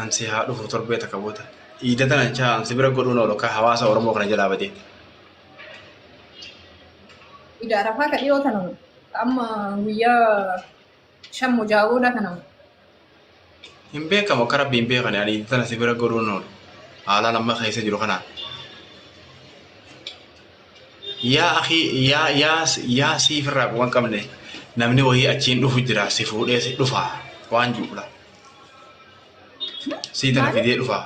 Ansi haa dhufu torbee takka booda. Iida tana jechaa ansi bira godhuun oolu akka hawaasa Oromoo kana jalaa badee. Iida arafaa ka dhiyoo tana moo? Ka amma guyyaa shan moo ja'a booda kana moo? Hin beekamu akka rabbi hin beekane ani iida tana si bira godhuun oolu. Haalaan amma keessa jiru kanaan. Yaa akii yaa yaa yaa sii firraa quban qabne namni wayii achiin dhufu jira si fuudhee si dhufa waan juula sii tana Maali? fidee dhufa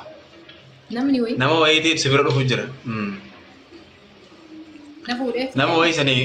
Namni wayii nama wayiitiif si bira dhufu jira Mm. na fuudhee. nama wayii sanii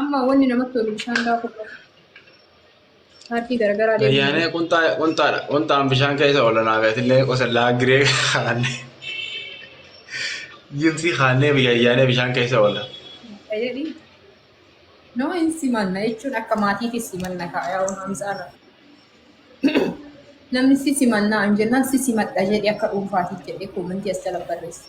Amma wanni namatti tolu bishaan daakuu qofa. Paartii garaagaraa deemuu Ayyaanee dandeenya. qunxaa qunxaadha. Qunxaan bishaan keessa oolanaa beetillee qosallaa giree kaanne. Jimsii kaannee biyya ayyaanee bishaan keessa oola. Fayyadi. Nama hin simanna jechuun akka maatiitti simanna kaayaa Hamzaarra. Namni si simannaa hin jennaan si simadha jedhee akka dhuunfaatiif jedhee koomentii as jala barreessa.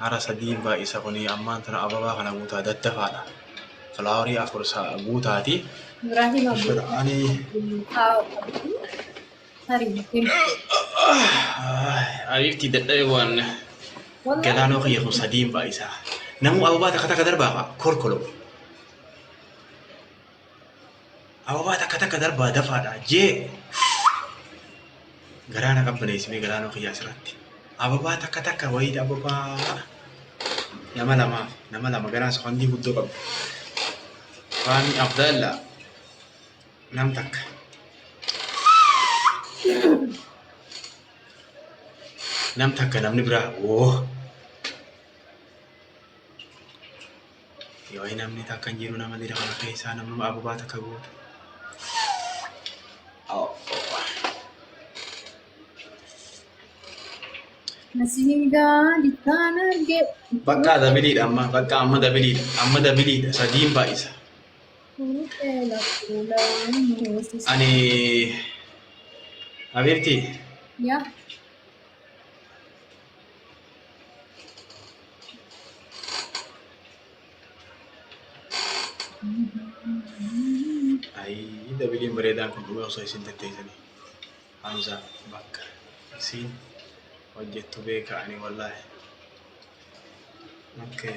Hara sadiin baay'isa kun ammaan tana ababaa kana guutaa daddafaadha. Filaawarii afur guutaati. Ani ariiftii dadhabee waan galaanoo kiyya kun sadiin baay'isa. Namuu ababaa takka takka darbaafa korkoloo. Ababaa takka takka darbaa dafaadha jee garaa na qabbaneessimee garaa noo kiyyaa asirratti. Ababaa takka takka wayii ababaa nama lama nama lama garaan safandii guddoo qabdu. Faami Abdalla nam takka. Nam takka namni biraa woo. Yoo hin amne takka hin jiru nama dira kana keessaa namuma ababaa takka guutu. Nasiingaa dikkaan argee. Bakka dabiliidha amma bakka amma dabiliidha amma dabiliidha sadiin baay'isa. Fuudhee lakkuudhaan hoosisa. Ani Habiibti Yaa Ayii dabiliin bareedaan kun dhugaa osoo isin tatteessanii. Hamza bakka isiin hojjettu beeka ani wallaahi. Okay.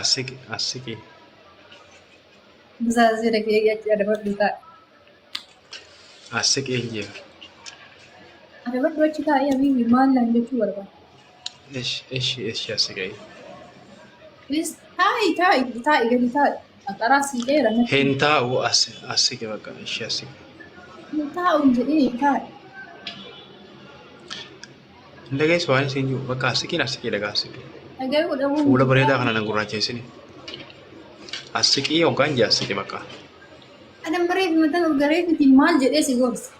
Asiki asiki. Musaa sira kee yachi adabadhu taa. Asiki ejje. Adabadhu achi taa ya bibi maal naan jechuu barbaada. Esh esh esh asiki. Please taa'i taa'i taa'i gadi taa'i. Qaxaraa sii dheera natti. Hin taa'u as asiki bakka esh asiki. Hin taa'u hin jedhini taa'i. Hin dhageessu waan isin jiru. Bakka assiqiin assiqii dhagaa assiqii. Dhaga'uu dhabuu. Fuula bareedaa kana na gurraacheessine. Assiqii hoggaan jee assiqii bakka. Adam bareef matan urgaree fiti maal jedhee si gorsa.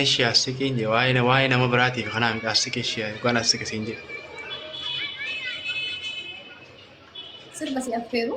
Eshi assiqiin jee waa'ee na- waa'ee nama biraatiif kanaa miti assiqii ishee hoggaan assiqii siin jee. Sirba si affeeru.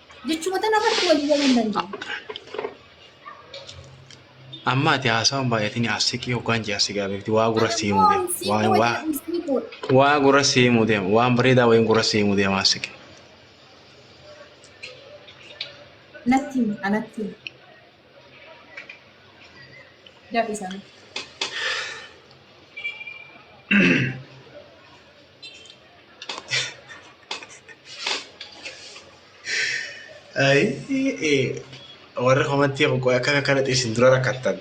Jechoota namatti walii galuu hin dandeenye. Amma ati haasawaan baay'atini asiqii hoggaan jee asigaa beekti waa gura sii himuu deema. Waa waa waa gura sii himuu deema. Waan bareedaa wayiin gura sii himuu deema asiqii. Natti himi, anatti himi. Dafii sana. Warri komantii kun qoy akka kanatti isin dura rakkattan.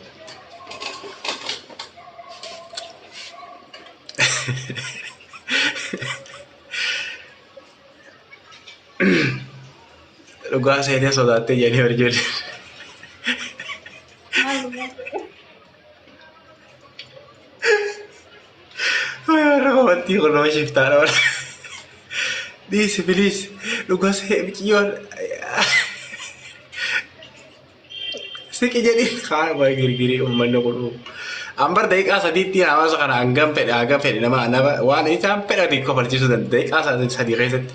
Dhugaa seenee sodaattee jedhanii hojjetan. Raawwattii kun nama shiftaa dha. Dhiisi biliis dhugaa se'ee miciyyoon siqi jedhi kaan waa girgirii uummanni kun uumu. An bar daqiiqaa sadiitti hawaasa kana hangam fedhe hangam fedhe nama nama waan isaan fedhate kofalchiisuu danda'a daqiiqaa sadii keessatti.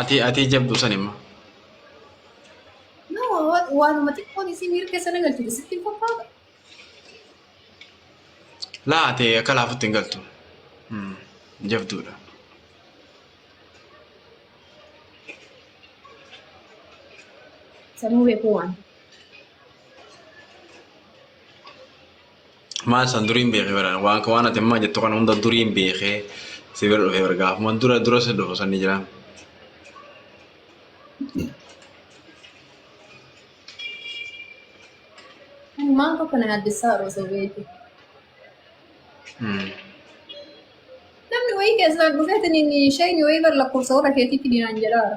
Atii atii jabdu san immoo. Nama waan- waanuma xiqqoon isii miira keessa na galchite sitti hin fakkaatu. Laa ati akka laafutti hin galtu. Hmm, Jabduudha. Sanuu beekuu waan. Maal san duriin beekee bara waan waan ati ammaa jettu kana hunda duriin beekee si bira dhufee bara gaafuma dura dura si dhufu sanni jira. Maal tokko na addisaa osoo beeku. Hmm. Namni wayii keessaa dhufeetiin inni isheen wayii bar lakkoofsa warra keetiitti dinaan jedhaara.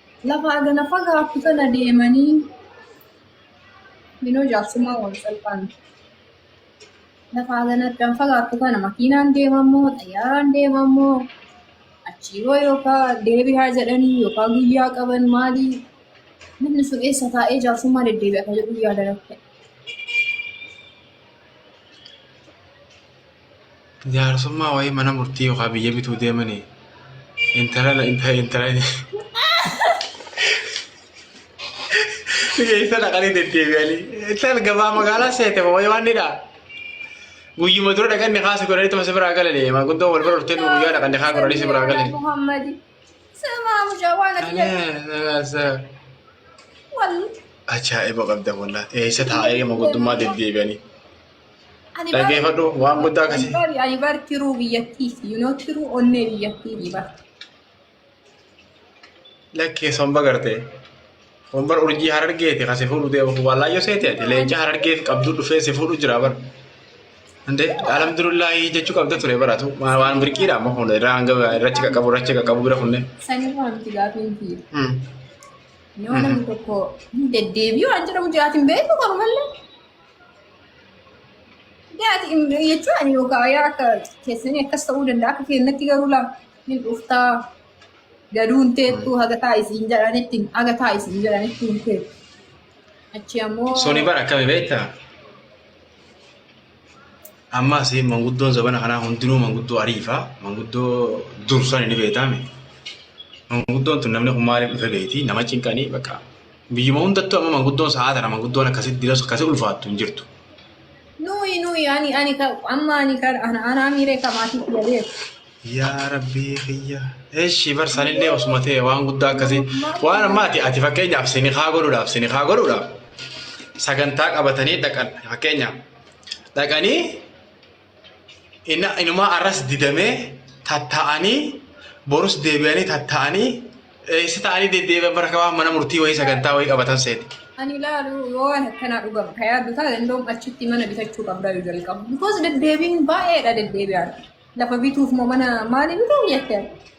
Lafa agana fagaattu tana deemanii minoo jaarsummaa wal salphaa miti. Lafa agana addaan fagaattu kana makiinaan deemammoo xayyaaraan deemammoo achii boo yookaan deebi'aa jedhanii yookaan guyyaa qaban maalii namni sun eessa taa'ee jaarsummaa deddeebi'a kan jedhu yaada rakkate. Jaarsummaa wayii mana murtii yookaan biyya bituu deemanii intala na intala intala keessa dhaqanii deddeebi'anii intal gabaa magaalaa seete wayii waan ni dha'a. Guyyuma dura dhaqanni kaasa godhanii tuma si biraa galanii maanguddoo wal bira dhufteen guyyaa dhaqanni kaa godhanii si biraa galanii. Muhammad. Sama mucaa waan ati jedhu. Wal. Ajaa'iba qabda wallah eessa taa'ee maanguddummaa deddeebi'anii. Ani baay'ee- Dhaggeeffadhu waan guddaa akkasii. Ani baay'ee- ani bar tiruu biyyattiiti. You know, tiruu onnee biyyattiiti bar. Lakkee somba gartee. Hombar urjii harargeeti kan si fuudhu deemu wallaayyoo seeti ati leenca harargeef qabduu dhufee si fuudhu jira bara. Hinde alhamdulillahi jechuu qabda ture baratu waan waan birqiidha amma kun irraa hanga irrachi qaqqabu irrachi qaqqabu bira kunne. Sanirraa miti gaafiin kiyya. Hmm. Yoo namni tokko hin deddeebi'u waan jedhamu jiraatiin beeku qabu malee. jechuun ani yookaan yaa akka keessanii akkas ta'uu danda'a akka keenyatti garuu laa hin dhuftaa gaduun teettuu haga taa isiin jedhanitti haga taa isiin jedhanitti hin teettu achi ammoo Suni bara akkami beektaa? Amma asiin manguddoon zabana kanaa hundinuu manguddoo ariifaa, manguddoo dursan ni beektaame. Manguddoon tun namni kun maaliif dhufe beekti, nama cinqanii bakka Biyyuma hundattuu amma manguddoon sa'aa tana manguddoon akkasitti dinas akkasii ulfaattu hin jirtu. Nuyi nuyi ani ani ka amma ani ka ana ana miiree ka maatii kiyya beeku. Yaa rabbii kiyya. Eshi bar sanillee osuma ta'e waan guddaa akkasii waan amma ati ati fakkeenyaaf sini haa godhuudhaaf sini haa godhuudhaaf sagantaa qabatanii dhaqan fakkeenyaaf dhaqanii Inna- inumaa arras didamee tatta'anii borus deebi'anii tatta'anii eessa ta'anii deddeebi'an bara kabaa mana murtii wayii sagantaa wayii qabatan seeti. Ani ilaalu yoo waan akkanaa dhugama ka yaaddu taate indoom achitti mana bitachuu qabdaa yoo jalqabu. Because deddeebiin baay'eedha deddeebi'aadha. Lafa bituuf moo mana maali bituu jettee?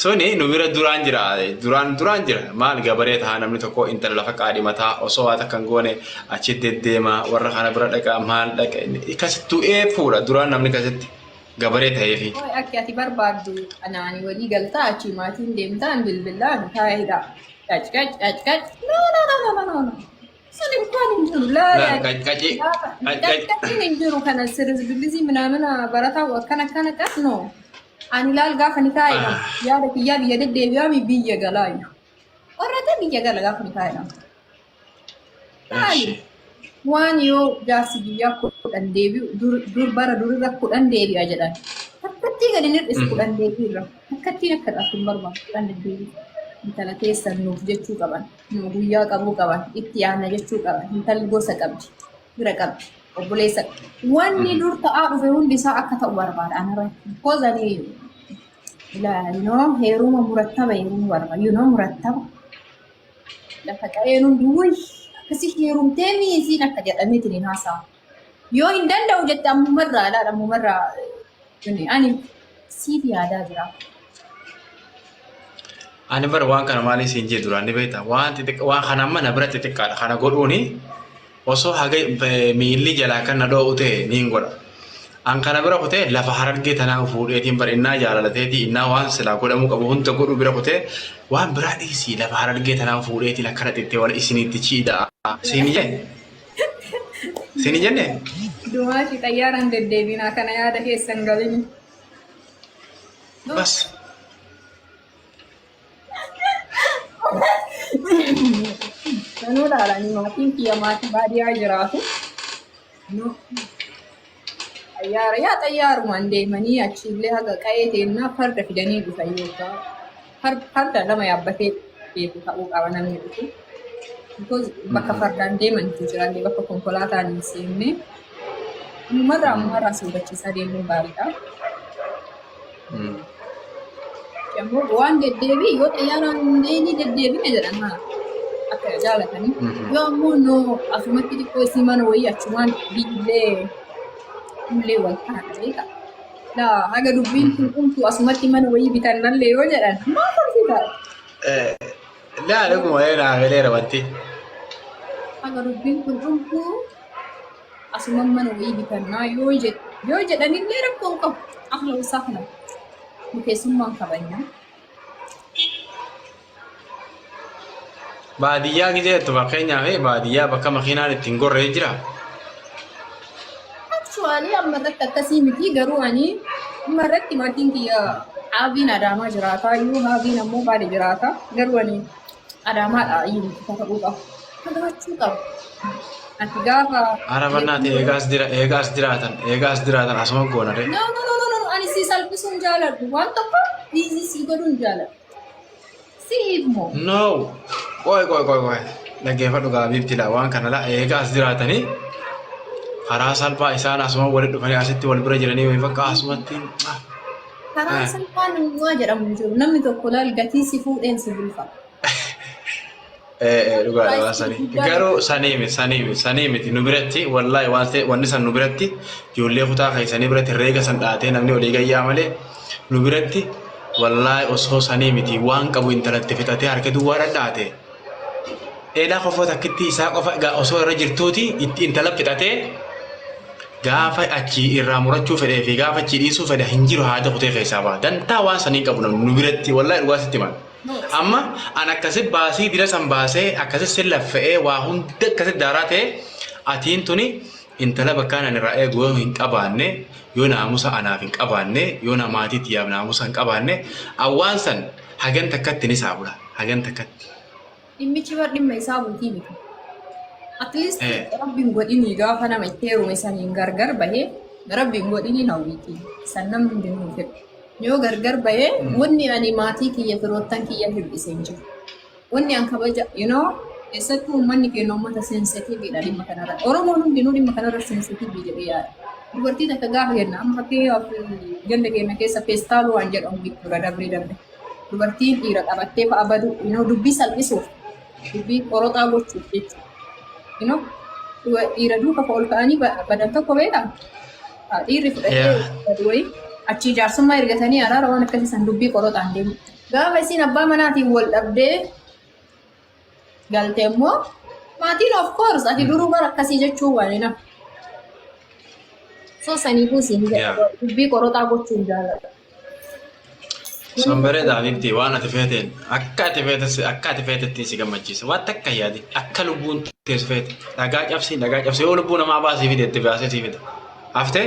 Suni nu bira duraan jira duraan duraan jira maal gabaree tahaa namni tokko intala lafa qaadhimataa osoo waa takka hin goone achi deddeema warra kana bira dhaqa maal dhaqa inni kasi du'ee fuudha duraan namni kasitti gabaree taheefi. Hooy akki ati barbaaddu anaani walii galtaa achii maatiin deemtaan bilbilaan taa'edha. Qac qac qac qac no no no no no no. Sun imkaan hin jiru. Laa Laa, yaa qac- qaci- gaafa. qac- qac- Qaqqabiin hin jiru kana sirisbilizii minaamina barataa akkana akkana qas no. Ani laal gaafa ni taa'e Ah. yaada kiyyaa biyya deddeebi'aa mi biyya galaayu. Qorrata biyya gala gaafa ni taa'e nama. Laali. Eshi. Waan yoo jaarsi biyyaa kudhan deebi'u dur- dur bara durirra kudhan deebi'a jedhan. Akkattii gadi nir'is Mhm. kudhan deebi'irra. Akkattiin akka dhaaf hin barbaadu kudhan deddeebi'u. Intala keessan nuuf jechuu qaban. Yoo guyyaa qabuu qaban itti yaadna jechuu qaban intalli gosa qabdi fira qabdi obboleessa wanni dur ta'aa dhufe hundi isaa akka ta'u barbaada anara because ani ila you know heeruma murattaba heeruma barbaada you know murattaba lafa qa'een hundi wuy akkasi heerumtee miisiin akka jedhameetiin hin haasa'a Yoo hin danda'u jette ammuma irraa ilaala ammuma irraa tuni ani siif yaadaa jira. Ani bara waan kana maaliin siin jee duraan ni beektaa waan xixiqqa waan kana amma na bira xixiqqaadha kana godhuuni osoo haga eh, miilli jalaa kan na dhoo'u ta'e niin godha. An kana bira kutee lafa harargee tanaa fuudheetiin bara innaa jaalalateetii innaa waan silaa godhamuu qabu hunda godhuu bira kutee waan biraa dhiisii lafa harargee tanaa fuudheetiin akkana xittee wala isiniitti chiidha siin jee Sini jenne? Dumaati xayyaaraan deddeebinaa kana yaada keessan galini. Bas. Sanuu dhaalanii maatiin kiyya maatii baadiyyaa jiraatu. Xayyaara yaa xayyaarumaan deemanii achiillee haga qa'ee teennaa farda fidanii dhufan yookaan far- farda lama yaabbatee beeku ta'uu qaba namni dhufu. Because bakka fardaan deemantu jira illee bakka konkolaataan hin seenne. Ammumarraa ammumarraa soodachiisaa deemuun gaariidha. Yommuu waan deddeebi'e yoo xayyaaraan hundee ni deddeebina jedhan haa akka jaalatanii. Yoo ammoo no asumatti xiqqoo isii mana wayii achumaan biillee illee wal kana ta'eedha. Laa haga dubbiin kun dhumtu asumatti mana wayii bitan malee yoo jedhan maa tolfita? Laa dhuguma yoo naa galeera wanti. Haga dubbiin kun dhumtu Asuman mana wayii bitannaa yoo jed- yoo jedhanillee rakkoo hin qabu. Ahla wasaa kana nu keessummaan kabajna. Baadiyyaa gizee jettu fakkeenyaaf baadiyyaa bakka makiinaan ittiin gorree jira. Actually amma irratti akkasii miti garuu ani amma irratti maatiin kiyya haaviin adaamaa jiraataa yoo haaviin ammoo baali jiraata garuu ani Adaamaadha iyyuu kakadhuu qaba. Kakachuu qaba. Ati gaafa. Arabannaati eegaas dira eegaas diraatan eegaas diraatan asuma goona de. No, no, no, no, no, ani si salphisuun jaaladhu. Waan tokko dhiisii si godhuun jaaladhu. Si hiikmoo. No. Qoy qoy qoy qoy. Dhaggeeffadhu gaabiibti laa waan kana laa eegaas diraatanii karaa salphaa isaan asuma walitti dhufanii asitti wal bira jiranii wayii bakka asumatti. ah. Karaan salphaan uumaa jedhamu hin jiru. Namni tokko laal gatii si fuudheen si bulfa. Dhugaadha waan sanii. Garuu sanii miti sanii miti sanii miti nu biratti wallaahi waan ta'e wanni san nu biratti ijoollee kutaa keessanii biratti reega san dhaatee namni olii gayyaa malee nu biratti wallaahi osoo sanii miti waan qabu intalatti fixatee harka duwwaa dhadhaate. Eelaa kofoo takkittii isaa qofa egaa osoo irra jirtuuti itti intala fixatee gaafa achi irraa murachuu fedhee fi gaafa achi dhiisuu fedha hin jiru haada kutee keessaa ba'a. Dantaa waan sanii qabu namni nu biratti wallahi dhugaa sitti himan. Amma an akkasi baasii dira san baasee akkasi sin laffa'ee waa hunda akkasi daaraa ta'e atiin tuni Intala bakkaan ani irraa eegu yoo hin qabaanne, yoo naamusa anaaf hin qabaanne, yoo na maatii tiyyaaf naamusa hin qabaanne, an waan san hagan takkatti ni saabula. Hagan takkatti. Dhimmichi bar dhimma isaa buutii miti. At least Eh. rabbi hin godhinii gaafa nama itti heerume saniin gargar bahee rabbi hin godhinii hawwiitii. San namni hundi hin fedhu. Yoo gargar bahee wanni ani maatii kiyya firoottan kiyya hir'ise hin jiru. Wanni an kabaja, you know, keessattuu uummanni keenya uummata sensitiviidha dhimma kanarra. Oromoon hundinuu dhimma kanarra sensitivii jedhee yaada. Dubartii takka gaafa jenna, amma fakkeenyaaf ganda keenya keessa feestaaluu waan jedhamu jechuudha dabree dabre. Dubartiin dhiira qabattee fa'a badu, you know, dubbii salphisuuf, dubbii qoroxaa gochuuf jechuudha. You know, duba- dhiira duuka ol ka'anii ba- badan tokko beekaa? Haa, Dhiirri fudhatee Yeah. badu wayii achii jaarsummaa ergatanii araara waan akkasii san dubbii qoroxaan deemu. Gaafa isiin abbaa manaatiin wal dhabdee galte immoo maatiin of course ati duruu bara akkasii jechuu waan hin hafu. So saniifuu isiin Yeah. jedha dubbii qoroxaa gochuu hin jaalladha. Sun bareeda Habibti waan ati feeteen akka ati feetes akka ati feetettiin si gammachiisa. Waan takka yaadi akka lubbuun tees feete dhagaa cabsii dhagaa cabsii yoo lubbuu namaa baasii fide itti baasee sii fida. Haftee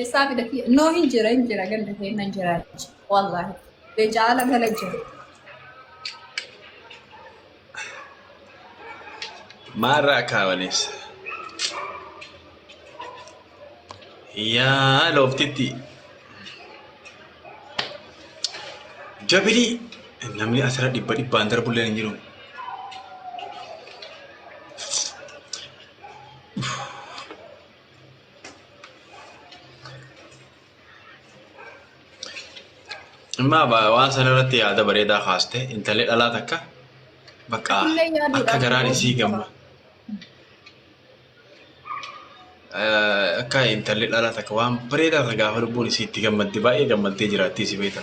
Eessaa fidati? Noo hin jira hin jira ganda keenya hin jira jechi. Wallaahi. Leencaa ala gala jira. Maarraa kaawaniis. Yaa looftitti. Jabilii. Namni asirra dhibba dhibbaan darbullee hin jiru. Amma waan sana irratti yaada bareedaa kaaste intalli dhalaa takka bakka Illee yaaduu akka dhabuu garaan isii qaba. gamma. Eh, Akka intalli dhalaa takka waan bareedaa takka gaafa lubbuun isii itti gammadde baay'ee gammaddee jiraattii si beekta.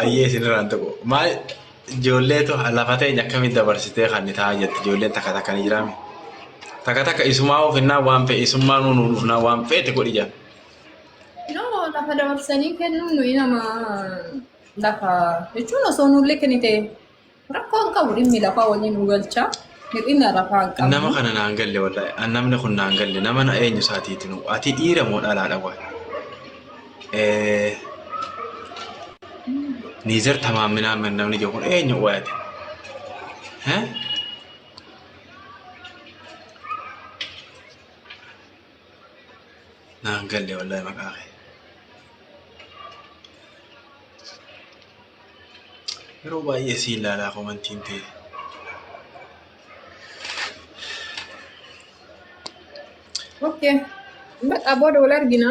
Ayyee isinirraan tokko. Maal ijoolleetu lafa teenya akkamitti dabarsitee kan taa'aa jirti ijoolleen takka takka ni jiraame. Takka takka isumaa ofinnaa waan fe'e isummaa nuun dhufnaa waan feete godhi jira. Yoo lafa dabarsanii kennuun nuyi nama lafa jechuun osoo nullee kennite Rakkoo hin qabu dhimmi lafaa waliin nu galcha. Hir'ina lafaa hin qabnu. Nama kana naan galle wallahi. An namni kun naan galle. Nama na eenyu isaatiiti nu. Ati dhiira moo dhalaadha waan. Niizer tamaaminaa min namni jiru kun eenyu waayate. Naan galle wallahi maqaa kee. Yeroo baay'ee si ilaalaa komantiin ta'e. Okay. Baqa booda wal argina.